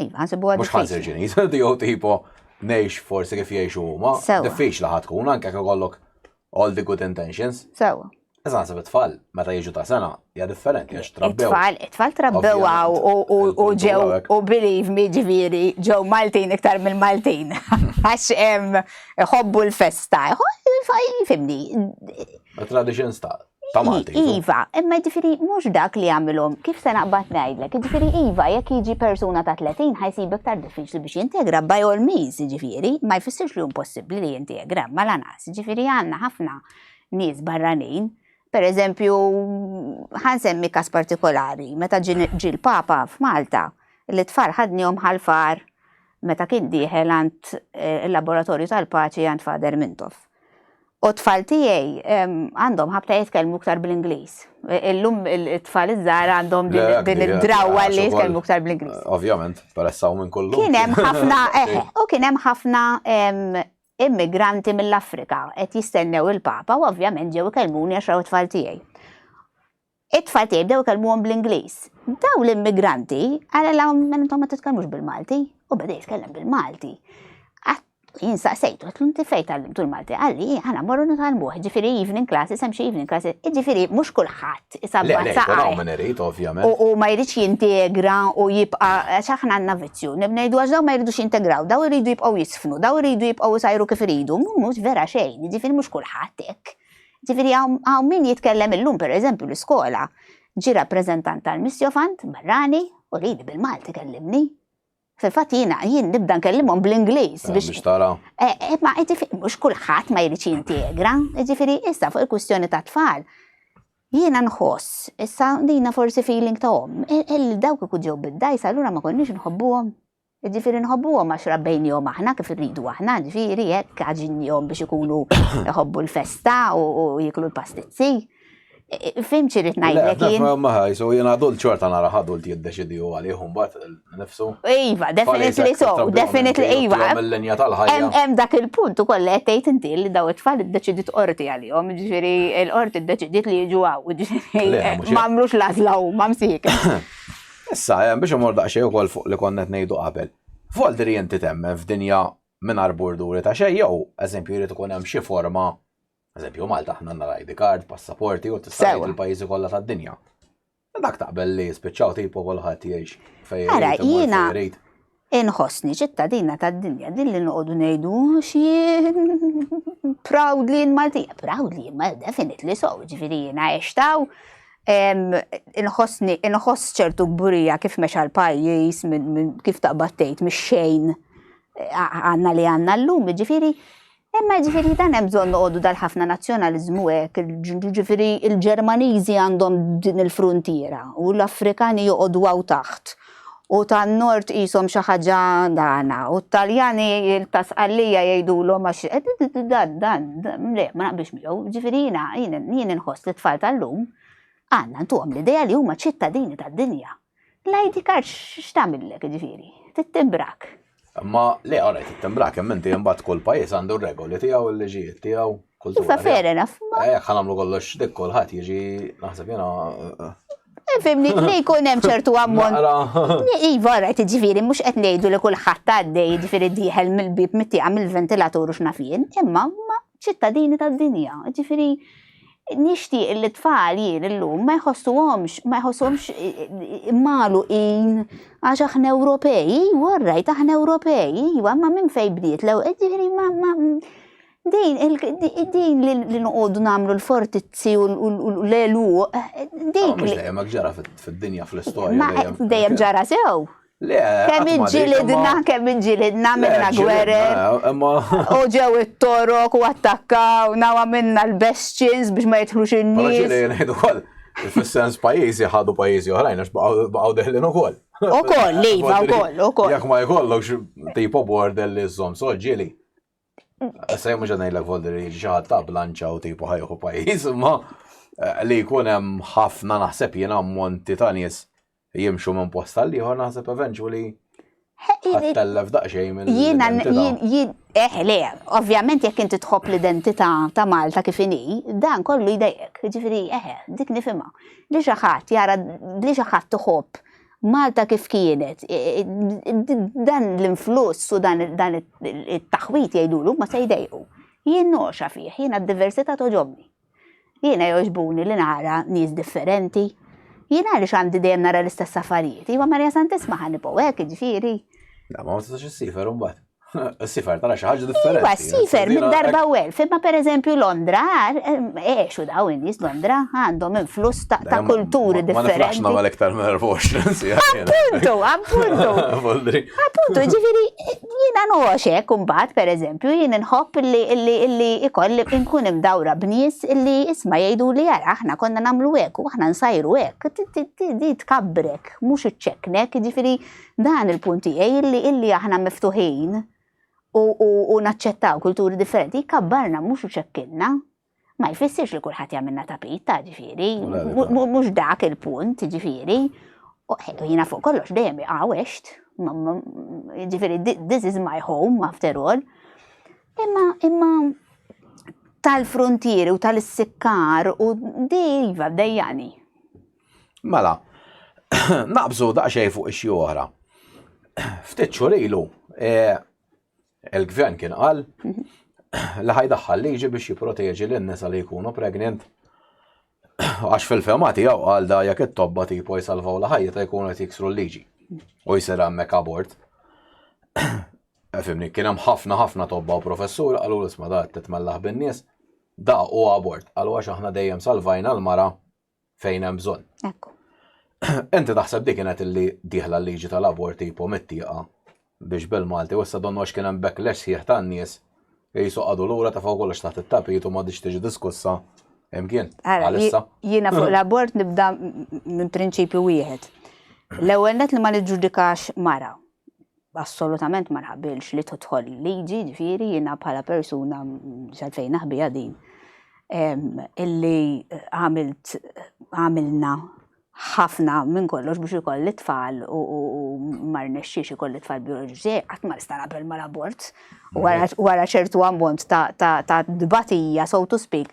Iva, nsibu għad. Mux ħanżir ġiniz, dijo tipo nejx forsi kif jiexu huma. Diffiċ laħat tkun, anke kif kollok all the good intentions. Sewa. Iżan se tfal meta jiġu ta' sena hija differenti għax trabbew. Tfal, tfal trabbew u ġew u believe me ġifieri ġew Maltin iktar mill-Maltin. Għax hemm iħobbu l-festa, jfimni. Tradition sta' ta' Malti. Iva, imma ġifiri mhux dak li għamilhom, kif se naqbad ngħidlek, ġifiri iva, jekk jiġi persuna ta' 30 ħajsib iktar diffiċli biex jintegra by all means, ġifiri, ma jfissirx li impossibbli li jintegra, ma lanqas, ġifiri għandna ħafna nies barranin. Per eżempju, ħansemmi kas partikolari, meta ġi l-Papa f'Malta, li tfal ħadnihom ħalfar meta kien dieħel għand eh, il-laboratorju tal-paċi għand Fader Mintoff. U t-tfal tiegħi għandhom ħabta jitkellmu iktar bl-Ingliż. Illum it-tfal iż-żgħar għandhom din id-drawwa li jitkellmu iktar bl-Ingliż. Ovvjament, peressaw minn kollu. Kien hemm ħafna, eh, u kien hemm ħafna immigranti mill-Afrika qed jistennew il-Papa u ovvjament ġew ikellmuni għax raw it-tfal tiegħi. It-tfal tiegħi bdew ikellmuhom bl-Ingliż. Dawn l-immigranti qalilhom mela intom ma titkellmux bil-Malti u beda jitkellem bil-Malti. Jien saqsejtu għatlu inti fejn tgħallimtu l-Malti qalli aħna morru nitgħallmuh, ġifieri evening classes hemm xi evening classes, ġifieri mhux kulħadd isabbat saqajh. U ma jridx jintegra u jibqa' għax aħna għandna vizzju. Ngħidu għax dawn ma jridux jintegraw, dawn iridu jibqgħu jisfnu, dawn iridu jibqgħu jsajru kif iridu, mhux vera xejn, ġifieri mhux kulħadd hekk. Ġifieri hawn min jitkellem illum pereżempju l-iskola ġie rappreżentant tal-Misjofant barrani u lili bil-Malti kellimni. Fil-fatt jiena jien nibda nkellimhom bl-Ingliż eh, biex. Biex tara. Eh, eh, ma jiġifieri mhux kulħadd ma jridx jintegra, jiġifieri issa fuq il-kwistjoni ta' tfal. Jiena nħoss, issa dina forsi feeling ta' om, il dawk ikun ġew bid-dajsa allura ma konniex nħobbuhom. Jiġifieri nħobbuhom għax rabbejniehom aħna kif irridu aħna, jiġifieri hekk għaġinnihom biex ikunu jħobbu l-festa u jiklu l-pastizzi. Fim xi rrid ngħidlek jien. Maħaj, so jien adult xorta nara adult jiddeċidi u għalihom bat nifsu. Iva, definitely so, definitely iva. Mill-linja tal-ħajja. Hemm dak il-punt ukoll qed tgħid inti li daw it-tfal iddeċidiet qorti għalihom, jiġifieri l-qorti ddeċidiet li jiġu hawn, jiġifieri m'għamlux l-għażla huma msiekin. Issa, biex immur daqsxejn ukoll fuq li konna qed ngħidu qabel, Voldri inti temmen f'dinja mingħajr burduri ta' xejn jew, eżempju, jrid ikun hemm xi forma, eżempju Malta aħna għandna l-ID card, passaporti u tista' tgħid il-pajjiżi kollha tad-dinja. Dak taqbel li jispiċċaw tipo kulħadd jgħix fejn irid imur fejn irid. Inħossni ċittadina tad-dinja din li noqogħdu ngħidu għax jien proudly Maltija. Proudly, ma definitely so, ġifieri jiena għextaw inħossni inħoss ċertu burija kif mexa l-pajjiż kif taqbad tgħid mix-xejn għandna li għandna llum, ġifieri Imma jiġifieri dan hemm bżonn noqogħdu dal-ħafna nazzjonaliżmu hekk, jiġifieri l-Ġermaniżi għandhom din il-fruntiera u l-Afrikani joqogħdu hawn taħt u tan-Nord qishom xi ħaġa dagħna u t-Taljani ta' Sqallija jgħidulhom għax dan, dan, le, ma naqbilx miegħu. Jiġifieri jiena, jien inħoss li t-tfal tal-lum għandna ntuhom l-idea li huma ċittadini tad-dinja. L-ID card x'tamillek ġifieri? Tittibrak. Ma le għara tittibrak, hemm inti imbagħad kull pajjiż għandu r-regoli tiegħu, l-liġijiet tiegħu, kultura. Iva fair enough. Eh, jekk ħanamlu kollox dik kulħadd jiġi naħseb jiena. Eh, fimni, li jkun hemm ċertu ammont. Iva, rajt ġifieri mhux qed ngħidu li kulħadd għaddej ġifieri dieħel mill-bib mittieqa mill-ventilatur u x'nafien, imma ċittadini tad-dinja. Ġifieri nixtieq li tfal jien illum ma jħossuhomx, ma jħossuhomx eh, eh, malu in għax aħna Ewropej, warrajt iva, aħna Ewropej, iwa, ma minn fej bdiet l eh, ġifieri ma ma din din li nqogħdu nagħmlu l-fortizzi u l-elu dik. Dejjem ġara fid-dinja fl-istorja. Dejjem ġara sew. Kemm inġilidna, kemm inġilidna minna gwerer. U ġew it-torok u attakkaw, nawa minna l-bestċins biex ma jitħlux in-nies. Fis-sens pajizi ħadu pajizi oħrajn, għax baqaw deħlin u koll. U koll, li, u koll, u koll. Jak ma jkollokx tipo border li zom, so ġili. Sej mux għanaj l-ek volder li ġaħat ta' blanċa u tipo ħajħu pajiz, ma eh, li jkunem ħafna naħseb jena monti ta' nis jimxu minn post għal ieħor naħseb eventually ħattellef daqsxejn minn. Jiena jien jien eh le, ovvjament jekk inti tħobb l-identità ta' Malta kif inhi, dan kollu jdejjek, jiġifieri eh dik nifhimha. Li xi ħadd jara li xi ħadd iħobb Malta kif kienet, dan l-influss u dan it-taħwit jgħidulu ma se jdejqu. Jien noxa fih, jiena d-diversità toġobni. Jiena jogħġbuni li nara nies differenti. Jien għaliex għandi dejjem nara l-istess affarijiet. Iva Marija Santissima ħa nibgħu hekk, jiġifieri. La ma tistax issifer imbagħad. Sifer tara xi ħaġa differenti. Iva, sifer minn darba u elf, imma pereżempju Londra, eħxu daw in-nies Londra għandhom influss ta' kulturi differenti. Ma nafx nagħmel iktar minn 24 sija. Appuntu, appuntu. Appuntu, ġifieri Jiena ngħoxek imbagħad pereżempju jien inħobb illi illi illi ikolli nkun imdawra b'nies illi isma' jgħiduli ara aħna konna nagħmlu hekk u aħna nsajru hekk. Di tkabbrek mhux iċċekknek, jiġifieri dan il-punt tiegħi illi illi aħna miftuħin u naċċettaw kulturi differenti jkabbarna mhux iċekkilna. ma jfissirx li kulħadd jagħmilna tapit ta' ġifieri, mhux dak il-punt ġifieri. U jiena fuq kollox dejjem iqawext, ġifieri this is my home after all. Imma imma tal-frontieri u tal-sikkar u dejva dejjani. Mela, naqbżu daqsxejn fuq ix-xi oħra. Ftit xhur ilu, eh, Il-gvern kien qal li ħajdaħħal liġi biex jipproteġi lin nisa li jkunu pregnant għax fil-fema tiegħu għal da jekk it-tobba tipo jsalvaw la ħajja ta' jkunu qed jiksru l-liġi u jsir hemmhekk abort. Fimni, kien hemm ħafna ħafna tobba u professur qalu l-isma da titmellaħ bin-nies da u abort għalu għax aħna dejjem salvajna l-mara fejn hemm bżonn. Ekku. Enti taħseb dik kienet illi diħla l-liġi tal-aborti jipomettiqa biex bil-Malti u issa donnu għax kien hemm backlash sħiħ tan-nies li jisoqgħadu lura ta' fuq kollox taħt it-tapit u ma diċ tiġi diskussa imkien. Għalissa. Jiena fuq l-abort nibda minn prinċipju wieħed. L-ewwel net li ma niġġudikax mara. Assolutament ma naqbilx li tidħol liġi, jiġifieri jiena bħala persuna x'għalfejn naħbiha din illi għamilt għamilna ħafna minn kollox biex ikolli tfal u ma rnexxiex ikolli tfal bioloġiċi, qatt ma nista' naqbel mal-abort wara ċertu ammont ta' dbatija, so to speak,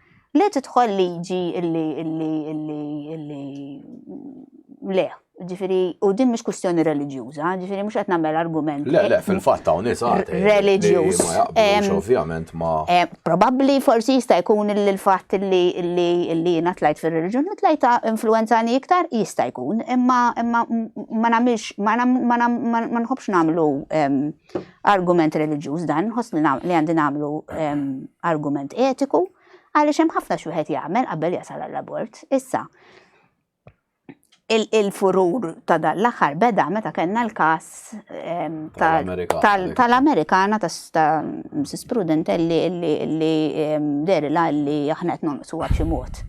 Li tidħol liġi illi illi illi illi le, ġifiri, u din mhux kwistjoni reliġjuża, ġifiri mhux qed nagħmel argument. Le, le, fil-fatt hawn nisa reliġjuż. Ma jaqblux ovvjament ma. Probabbli forsi jista' jkun il-fatt li li li jiena tlajt fir-reliġjoni tlajt influenzani iktar jista' jkun, imma imma ma nagħmilx ma nħobbx nagħmlu Argument reliġjuż dan, nħoss li għandi nagħmlu ehm, argument etiku, għaliex hemm ħafna xi wieħed jagħmel qabel jasal għall-abort. Issa, il-furur ta' dan l-aħħar beda meta kellna l-każ ehm, tal-Amerikana ta' Mrs. Prudent li li ehm, derila li aħna qed nonqsu xi mod.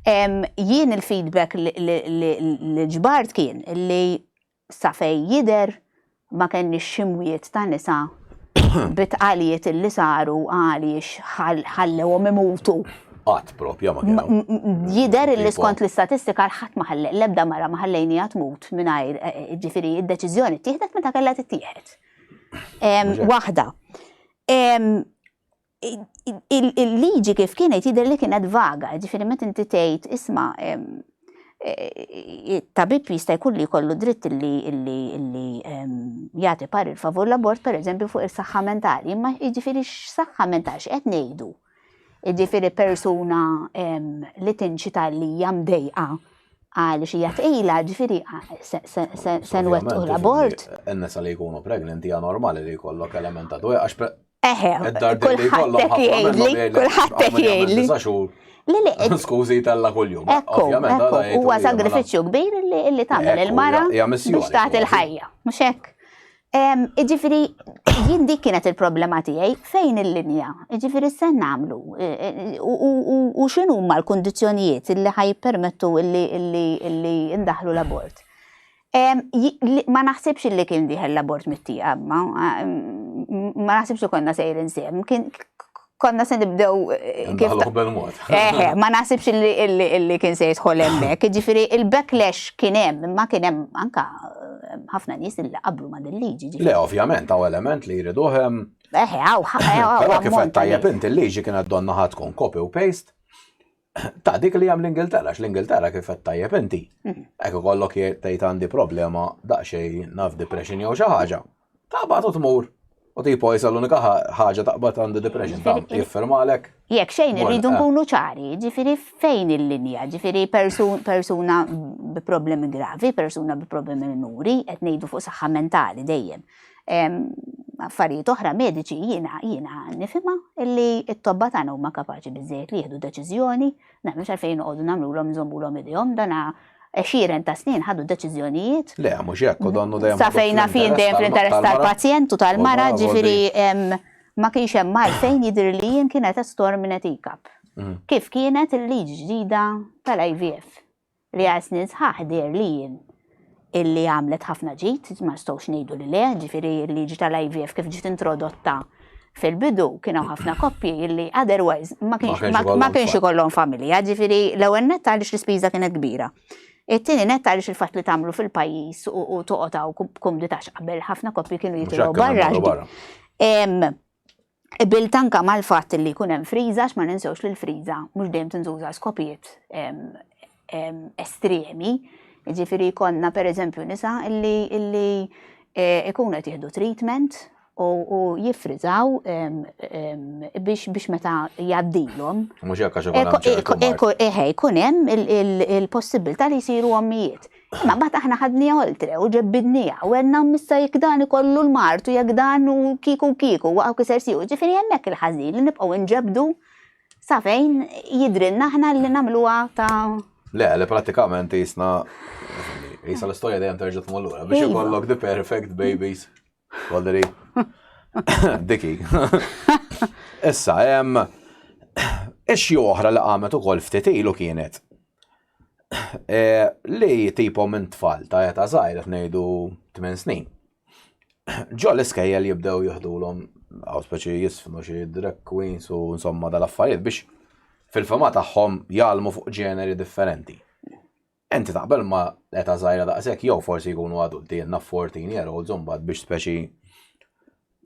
Jien il-feedback li ġbart kien li Sa fejn jidher ma kenniex ximwiet ta' nisa bi tqalijiet li saru għaliex ħallewhom imutu. Qatt propja ma kien hawn. Jidher li skont l-istatistika l-ħadd ma ħallej, l-ebda mara ma ħallejniha tmut mingħajr, ġifieri d-deċiżjoni ttieħdet meta kellha tittieħed. Waħda. il-liġi kif kienet jidher li kienet vaga, ġifieri meta inti tgħid isma' eh, tabib jista' jkun li jkollu dritt li jagħti parir favur l-abort pereżempju fuq is-saħħa mentali, imma jiġifieri x-saħħa mentali x'qed ngħidu. Jiġifieri persuna li tinċita li hija mdejqa għal xi jatqila ġifieri se nwettqu l-abort. Enna sa li jkunu pregnanti hija normali li jkollok element ta' dwejqa Eħe, kullħat qed jgħidli, kullħat qed jgħidli. Le le. Skużi tella kuljum. Ekku, ekku, huwa sagrifiċċju kbir li tagħmel il-mara biex tagħti l-ħajja, mhux hekk. Iġifieri jien dik kienet il-problema tiegħi fejn il-linja, iġifieri se nagħmlu u x'inhuma l-kundizzjonijiet li ħaj permettu li ndaħlu l-abort. Ma naħsibx li kien diħel l-abort mit-tieqa, ma ma naħsibx li konna sejr insieme. Kien konna se nibdew eh, kif. Eħe, ma naħsibx li kien se jidħol hemmhekk. Ġifieri il-backlash kien hemm, ma kien hemm anka eh, ħafna nies li qablu ma din liġi. Le, ovvjament, għaw element li jridu hemm. Eħe, għaw, għaw. Kif tajjeb inti l-liġi kienet donna ħatkun copy u paste Ta' dik li hemm l-Ingilterra, x l-Ingilterra kif qed tajjeb inti. Mhm. Hekk ikollok tgħid għandi problema daqsxejn naf depression jew xi ħaġa. Taqbad u tmur. U tipo jisa l-unika ħaġa taqbad għandi depression ta' jiffirmalek. Jekk xejn irridu eh. nkunu ċari, ġifieri fejn il-linja, ġifieri persuna bi problemi gravi, persuna bi problemi minuri, qed ngħidu fuq saħħa mentali dejjem. affarijiet oħra mediċi jiena jiena nifhimha illi t-tobba tagħna huma kapaċi biżejjed li jieħdu deċiżjoni, nagħmlu x'għalfejn noqogħdu nagħmlulhom nżommulhom idejhom dana għexieren ta' snin ħadu deċiżjonijiet. Le, mhux hekk, u donnu dejjem. Sa fejna fin dejjem fl-interess tal-pazjent u tal-mara, ġifieri ma kienx hemm għalfejn jidhir li jien kienet estor minn etikab. Mm. Kif kienet il-liġi ġdida tal-IVF? li għal snin sħaħ deherli jien illi għamlet ħafna ġid, ma nistgħux ngħidu li le, ġifieri l-liġi tal-IVF kif ġiet introdotta fil-bidu kien hawn ħafna koppji illi otherwise ma kienx ikollhom familja, ġifieri l-ewwel nett għaliex l-ispiża kienet kbira. It-tieni net għaliex il-fatt li tagħmlu fil-pajjiż u toqgħod hawn kumditax qabel ħafna koppji kienu jitilgħu barra. Qbilt anke mal-fatt li jkun hemm friża għax ma ninsewx li l-friża mhux dejjem tintuża għal skopijiet estremi, jiġifieri jkollna pereżempju nisa li jkunu qed jieħdu treatment u jiffriżaw biex meta jgħaddilhom. Mhux hekk għax ikun hemm. Eħe, jkun hemm il-possibbiltà li jsiru ommijiet. Imma mbagħad aħna ħadniha oltre u ġebbidniha u għedna missa jekk dan ikollu l-mart u jekk dan u kieku kieku waqgħu kiser siju. Ġifieri hemmhekk il-ħażin li nibqgħu nġebdu sa fejn jidrilna aħna li nagħmluha ta' Le, le prattikament jisna jisa l-istorja dejjem terġa' tmur lura biex iva. ikollok the perfect babies. Valerie. Diki. Issa, ixxi oħra li qamet ukoll ftit ilu kienet e, li tipo minn tfal ta' eta zaħir ngħidu 8 snin. Ġo l-iskejjel jibdew jihdulhom għaw speċi jisfnu xi drag queens u insomma dal-affarijiet biex fil-fema tagħhom jgħalmu fuq ġeneri differenti. Inti taqbel ma' età żgħira daqshekk jew forsi jkunu adulti jenna 14 year olds imbagħad biex speċi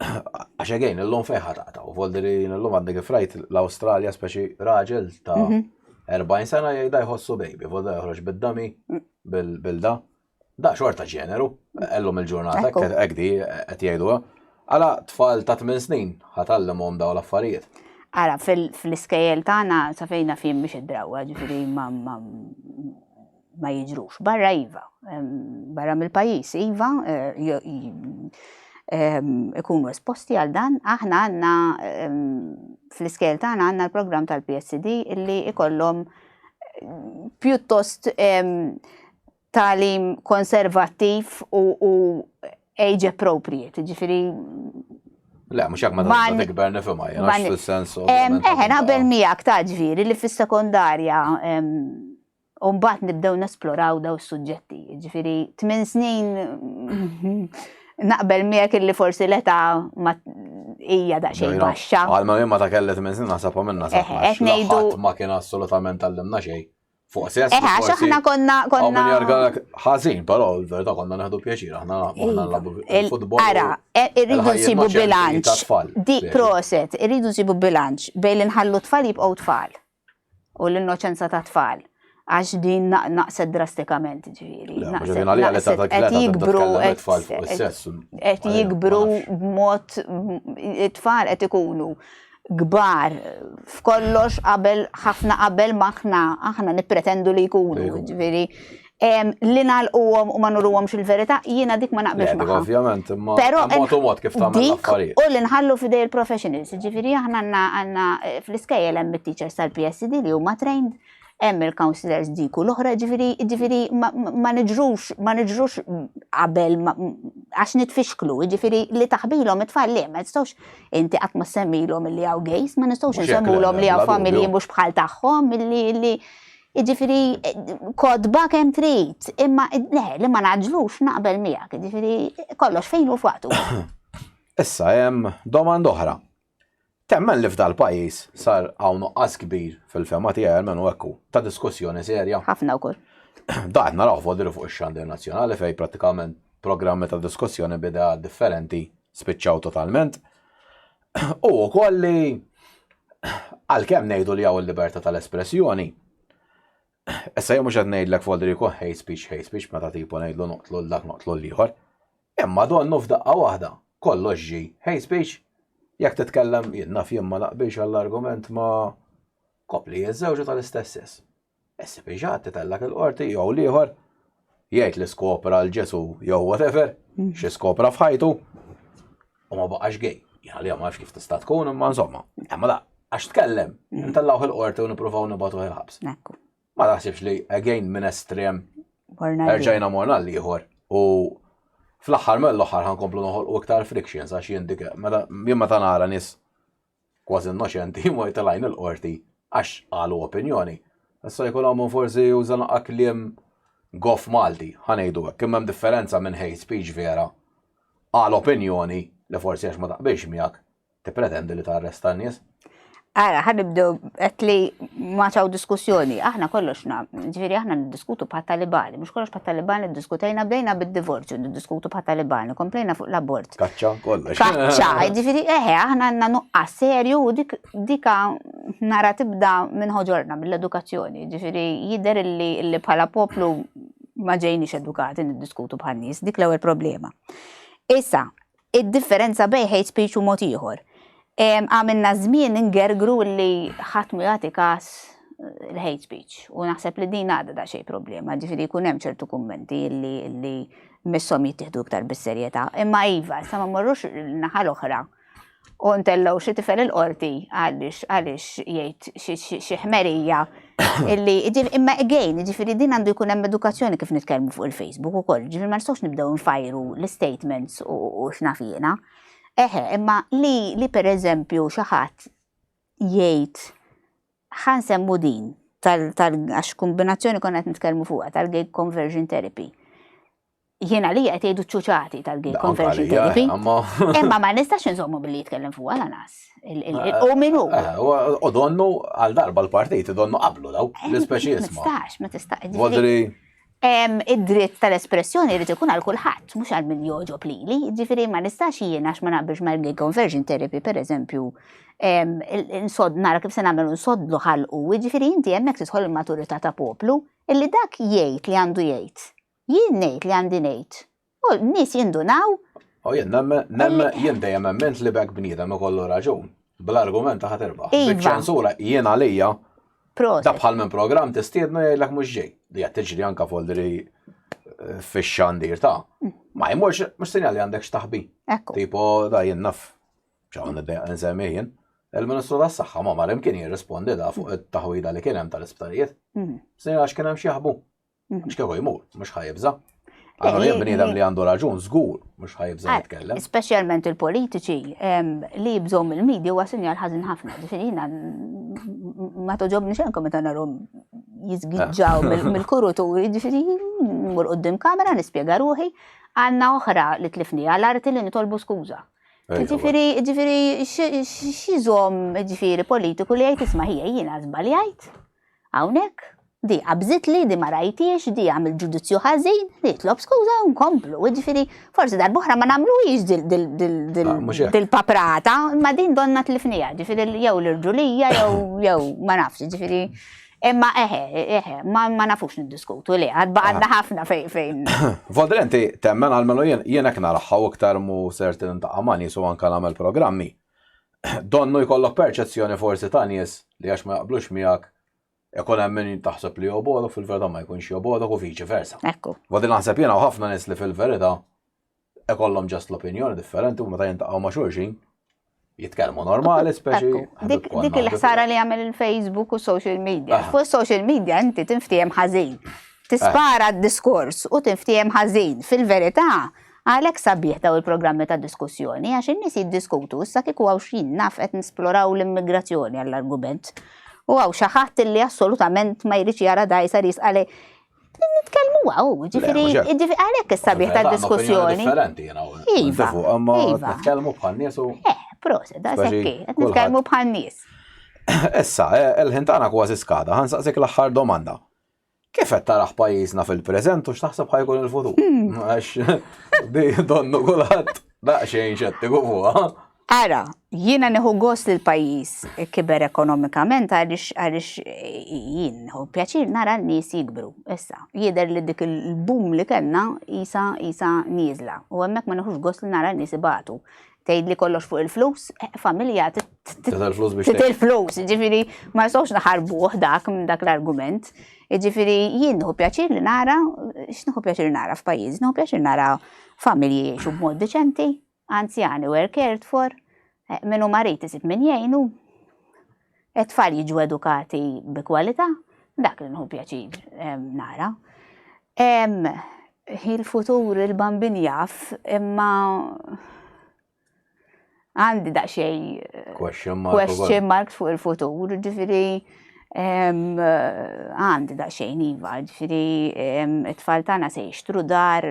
għax again illum fejn ħa taqtaw. Voldiri illum għadni kif rajt l-Awstralja speċi raġel ta' 40 mhm. sena jgħidha jħossu baby, voldiri joħroġ bid-dami bil-da. Da xorta ġeneru, ellum il-ġurnata, għeddi, għed jgħidu, Għala tfal ta' tmien snin ħa tgħallimhom dawn l-affarijiet? Ara, fl-iskejjel tagħna sa fejn naf jien mhix id-drawwa, ġifieri ma ma jiġrux. Barra iva, barra mill-pajjiż iva, ikunu esposti għal dan, aħna għandna fl-iskejjel tagħna għandna l-programm tal-PSD illi ikollhom pjuttost tagħlim konservattiv u age appropriate, ġifiri. Le, mux jak ma ta' tikber nifima, jena fil-sens. Eħe, naqbel miegħek ta' ġviri li fis-sekondarja Umbat nibdew nesploraw daw suġġetti, ġifiri, tmin snin naqbel miegħek illi forsi l-età ma hija da xejn baxxa. Għalma ma ta' kellet minn snin naħseb minna sa. Qed ngħidu ma kien assolutament għallimna xejn. Fuq sess. Eħe, għax aħna konna. Għaw minn jargalek ħazin, pero l-verda konna neħdu pjaċir, aħna konna nlabu il-futbol. Ara, e, irridu nsibu bilanċ. Di proset, irridu nsibu bilanċ bej li nħallu tfal jibqgħu tfal u l-innoċenza ta' tfal għax din naqset drastikament ġviri. Għet jikbru għet jikbru b'mod it-tfal għet ikunu kbar f'kollox qabel ħafna qabel maħna aħna nippretendu li jkunu, ġifieri li nalquhom u ma nuruhomx il-verità, jiena dik ma naqbilx eh, magħha. Ovvjament, imma però mod kif tagħmel affarijiet. U li nħallu f'idej il-professionals, ġifieri aħna għandna eh, fl-iskejjel hemm it-teachers tal-PSD li huma trained hemm il-councillors dik u l-oħra ġifiri, ġifiri ma nġrux, ma nġrux qabel għax nitfixklu, ġifiri li taħbilhom it-tfal li ma nistgħux inti qatt ma semmilhom li hawn gejs, ma nistgħux nsemmulhom li hawn familji mhux bħal tagħhom milli li ġifiri kodba kemm trid, imma le li ma naġlux naqbel miegħek, ġifiri kollox fejn u f'waqtu. Issa hemm domanda oħra. Temmen li f'dal pajjiż sar hawn nuqqas kbir, fil-fehma tiegħi almenu hekk hu, ta' diskussjoni serja? Ħafna wkoll. Dan qed narawh f'Għodri fuq ix-xandir nazzjonali fejn prattikament programmi ta' diskussjoni b'ideat differenti spiċċaw totalment. Hu wkoll li għalkemm ngħidu li hawn il-libertà tal-espressjoni, issa jien mhux qed ngħidlek f'Għodri jkun hate speech hate speech meta tipu ngħidlu noqtlu 'l dak noqtlu 'l ieħor. Imma donnu f'daqqa waħda kollox ġie hate speech. Jekk titkellem, jien naf jien ma naqbilx għall-argument ma' koppli jiżżewġu tal-istess sess. Issib iġgħad titellgħek il-qorti jew l-ieħor jgħid li skopra l-Ġesù jew whatever, xi skopra f'ħajtu u ma baqax gay. Jien għalija ma nafx kif tista' tkun imma insomma. Imma la, għax tkellem, intellgħuh il-qorti u nippruvaw nibgħatuh il-ħabs. Ma naħsibx li again minn estrem erġajna morna l-ieħor u fl-aħħar mill-aħħar ħankomplu noħolqu iktar frictions għax jien dik jien meta nara nies kważi innoċenti jmur jitilgħin il-qorti għax qalu opinjoni. Issa jkun hawn forsi juża naqqa kliem goff Malti, ħanejdu hekk, kemm hemm differenza minn hate speech vera għal opinjoni li forsi għax ma taqbilx miegħek Tippretendi li tarresta n-nies? Ara, ħan nibdew qed li ma ċaw diskussjoni, aħna kollox na, ġifieri aħna niddiskutu bħat talibani, mhux kollox bħat talibani diskutejna bdejna bid-divorzju niddiskutu bħat talibani, komplejna fuq l-abort. Kaċċa kollox. Kaċċa, ġifieri eħe, aħna għandna nuqqas serju u dik dika nara tibda minn ħoġorna mill-edukazzjoni, ġifieri jidher li bħala poplu ma ġejniex edukati niddiskutu bħal nies, dik l-ewwel problema. Issa, Id-differenza bejn hate speech u mod ieħor. Għamilna żmien ingergru li ħadd ma jagħti każ l-hate speech. U naħseb li din għadha da xej problema, ġifiri jkun hemm ċertu kummenti li li missom jittieħdu iktar bis-serjetà. Imma iva, sa ma morrux naħa l-oħra u ntellgħu xi tifel il-qorti għaliex għaliex jgħid xi ħmerija Illi, ġifieri, imma again, ġifieri din għandu jkun hemm edukazzjoni kif nitkellmu fuq il-Facebook ukoll, ġifieri ma nistgħux nibdew nfajru l-istatements u x'naf jiena. Eħe, imma li li pereżempju xi ħadd jgħid ħan semmu din tal għax kombinazzjoni konna qed nitkellmu fuqha tal-gig conversion therapy. Jiena li qed jgħidu ċuċati tal-gay conversion therapy. Imma ma nistax nżommu billi jitkellem fuq għala nas. U minu. Eh, u donnu għal darba l-partit, donnu qablu daw, eh, l-ispeċi jisma. Ma tistax, ma tistax. Vodri. Id-dritt tal-espressjoni jrid ikun għal kulħadd, mhux għal min joġob lili. Ġifieri ma nistax jien għax ma naqbilx mal-gay conversion therapy, pereżempju, nsod nara kif se nagħmel nsodlu ħalqu, ġifieri inti hemmhekk tidħol il-maturità ta' poplu, illi dak jgħid li għandu jgħid Jien ngħid li għandi ngħid. U n-nies jindunaw. U jien nemmen, jien dejjem emment li b'hekk bniedem ikollu raġun. Bl-argument ta' ħaterba. Iva. Biċ-ċensura jien għalija. Proset. Da bħal minn programm tistiednu jgħidlek mhux ġej. Li qed tiġri anke f'Oldri eh, fix-xandir ta'. Mm. Ma jmurx mhux sinjal li għandek x'taħbi. Ekku. Tipo da jien naf. Ċawn nsemmi jien. Il-Ministru tas-Saħħa ma mar imkien jirrispondi da fuq it-taħwida li kien hemm tal-isptarijiet. Mm. Sinjal għax kien hemm xi jaħbu. Mhm. X'kieku jmur, mhux ħajibża. Għandu jien bniedem li għandu raġun, żgur, mhux ħajibża ah, jitkellem. Speċjalment il-politiċi li jibżgħu mill-medja huwa sinjal ħażin ħafna. Ġifieri jiena ma toġobni xenkom meta narhom jizgidġaw ah. mill-kurutu, ġifieri mur qudiem kamera nispjega ruħi għandna oħra li tlifni għal arti li nitolbu skuża. Ġifiri, ġifiri, xizom, ġifiri, politiku li għajt isma ħija jina zbaljajt. Hawnhekk, di qabżitli, di ma rajthiex, di għamilt ġudizzju ħażin, nitlob skuża u nkomplu. Jiġifieri, forsi darb'oħra ma nagħmluhiex dil-paprata, imma din donna tlifniha, jiġifieri jew l-irġulija jew ma nafx, jiġifieri Imma eħe, eħe, ma nafux niddiskutu li għad baqadna ħafna fejn fejn. Vodrenti, temmen għal-menu jien jien hekk naraħħa u iktar mu sertin ta' għamani su anka nagħmel programmi. Donnu jkollok perċezzjoni forsi ta' nies li għax ma jaqblux miegħek ikun hemm min taħseb li jobodok fil-verità ma jkunx jobodok u viċi versa. Ekku. Wadin naħseb jiena u ħafna nies li fil-verità ikollhom ġast l-opinjoni differenti u meta jintaqgħu ma' xulxin jitkellmu normali speċi. Dik il-ħsara li jagħmel il-Facebook u social media. Fuq social media inti tinftiehem ħażin. Tispara d-diskors u tinftiehem ħażin. Fil-verità, Għalhekk sabiħ daw il-programmi ta' diskussjoni għax in-nies jiddiskutu issa kieku hawn x'jien naf qed nisploraw l-immigrazzjoni għall-argument u hawn xi ħadd illi assolutament ma jridx jara dgħajsa li jisqa' lejn nitkellmu għaw, ġifiri, ġifiri, għalek s-sabiħ ta' diskussjoni. Differenti, jena. Iva, għamma iva. nitkellmu bħal nies u. Eh, proset, da' sekki, nitkellmu bħal nies. Issa, eh, il-ħintana kważi skada, ħansaqsik l-axħar domanda. Kif qed taraħ pajjiżna fil-preżent u x'taħseb ħajkun il-futur? Hmm. Għax di donnu kulħadd daqsxejn xettiku fuqha. Ara, jiena neħu gos li l-pajjiż kiber ekonomikament għaliex għaliex jien neħu pjaċir nara n-nies jikbru. Issa, jidher li dik il-bum li kellna isa isa nieżla u hemmhekk ma neħux gos li nara n-nies ibatu. tgħidli kollox fuq il-flus, eh, familja titil flus, ġifiri ma jistgħux naħarbuh dak minn dak l-argument. Ġifiri jien nħu pjaċir li nara, x'nħu pjaċir nara f'pajjiż, nħu pjaċir nara familji jiexu b'mod deċenti, anzjani were cared for, eh, minnu marit isib minn jgħinu. It-tfal jiġu edukati bi kwalità, dak li nħu pjaċir nara. Il-futur il-bambin jaf, imma għandi daqxej question mark fuq il-futur, ġifiri għandi daqxej niva, ġifiri it-tfal tana se jishtru dar,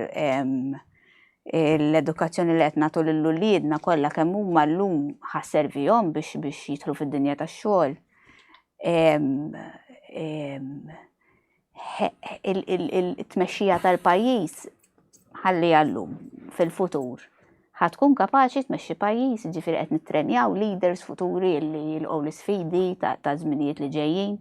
l-edukazzjoni li qed nagħtu lil uliedna kollha kemm huma llum ħasservihom biex biex jidħlu fid-dinja tax-xogħol. Il-tmexxija tal-pajjiż ħalli għallum fil-futur ħad tkun kapaċi tmexxi pajjiż, ġifieri qed nittrenjaw leaders futuri li jilqgħu l-isfidi ta' żminijiet li ġejjin.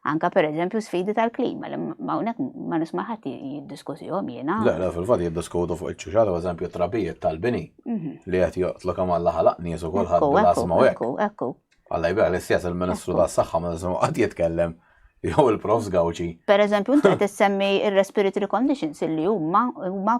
Anka per eżempju sfidi tal-klima, li mawnek ma nisma ħadd jiddiskussihom jiena. Le, le, fil-fatt jiddiskutu fuq iċ-ċuċata, per eżempju, trabijiet tal-bini mhm. li qed joqtlu kemm Alla ħalaq nies u kulħadd bil-asma u hekk. Ekku, Alla jbira li stess il-Ministru tas-Saħħa ma nisimgħu qatt jitkellem jew il-Prof Gawċi. Per eżempju, inti qed issemmi ir-respiratory conditions li huma huma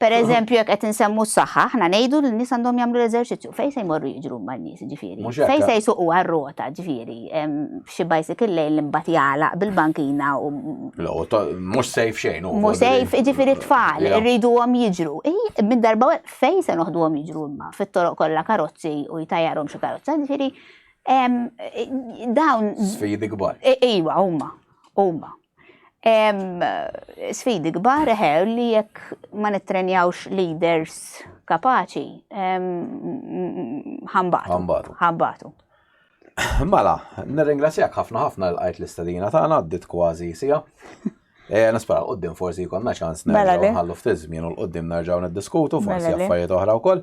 Per eżempju, jekk qed insemmu s-saħħa, aħna ngħidu li n-nies għandhom jagħmlu l-eżerċizzju. Fejn se jmorru jiġru ma' nies ġifieri? Fejn se jsuqu għar-rota ġifieri? Xi bicycle lejn li mbagħad jagħlaq bil-bankina u. Mhux sejf xejn. Mhux sejf ġifieri tfal, irriduhom jiġru. Minn darba fejn se noħduhom jiġru imma fit-toroq kollha karozzi u jtajjarhom xi karozza ġifieri. Dawn. Sfidi kbar. Iva, huma. Huma. Sfidi kbar ħew li jekk ma nittrenjawx leaders kapaċi, ħambatu. Ħambatu. Ħambatu. Mela, nirringrazzjak ħafna ħafna l-għajt l-istadina ta' għaddit kważi sija. Eh, Nispara, qoddim forsi jkollna ċans mela nerġgħu nħallu ftit żmien u l-qoddim nerġgħu niddiskutu forsi mela affarijiet oħra wkoll.